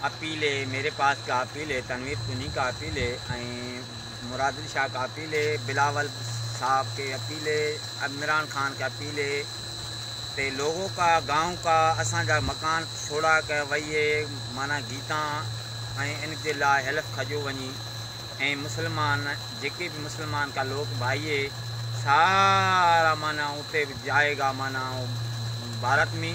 Appeal هي ميري پاس ڪا اپيل هي تنوير تنهين ڪا اپيل هي ۽ مرادل شاهه ڪا اپيل هي بلاول صاحب کي اپيل هي عمران خان کي اپيل هي تي لوگو ڪا گائون ڪا اسان جا مڪان ڇوڙا ڪر وئي هي معنيٰ گيتان ۽ ان جي لاء هيلف کجو وڃي ۽ مسلمان جيڪي به مسلمان ڪا لوگ ڀائي هي سارا معنيٰ اتي جائي گا معنيٰ ڀارت مي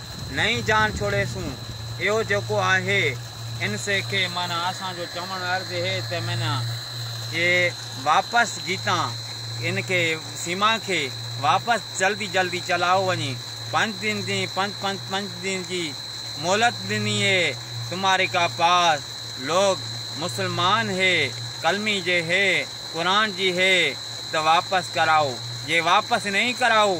نئين جان ڇوڙيسون، اهو جيڪو آهي ان سي کي معنيٰ اسان جو چوڻ عرض هي ته معنيٰ جي واپس جيتان ان کي سيما کي واپس جلدي جلدي چلايو وڃي پنج دن جي پنج پنج پنج دن جي مهلت ڏني هي تمهاري ڪا پاس لوگ مسلمان هي ڪلمي جي هي قرآن جي هي ته واپس ڪرايو جي واپس نهين ڪرايو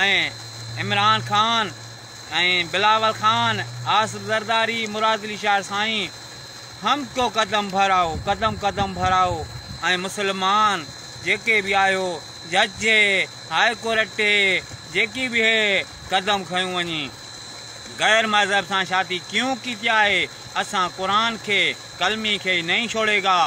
۽ عمران خان ۽ بلاول خان، آصف زرداري، مراد علي شاهه سائين، هم ڪو قدم ڀراؤ، قدم قدم ڀراؤ ۽ مسلمان جيڪي به آهيو، جج جي، هاء ڪورٽ تي جيڪي به هي قدم کنيون وڃي غير مذهب سان شادي ڪيون ڪيتي آهي، اسان قرآن کي، ڪلمي کي نهين ڇوڙيگا.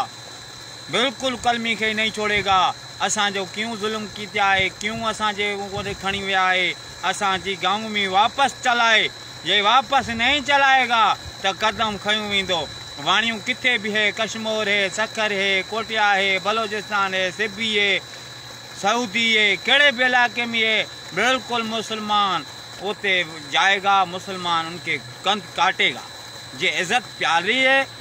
بلڪل قلمي کي نهين ڇوڙي گا اسان جو ڪيون ظلم ڪيتي آهي ڪيون اسان جي اوندي کڻي ويا آهي اسان جي گائون مي واپس چلائي جي واپس نهين چلائي گا ته قدم کنيو ويندو واڻيون ڪٿي به هي ڪشمور هي سکر هي ڪوٽيا هي بلوچستان هي سبي هي سعودي هي ڪهڙي به علائقي مي هي بلڪل مسلمان اوتي جائي گا مسلمان ان کي ڪنڌ ڪاٽي گا جي عزت پياري هي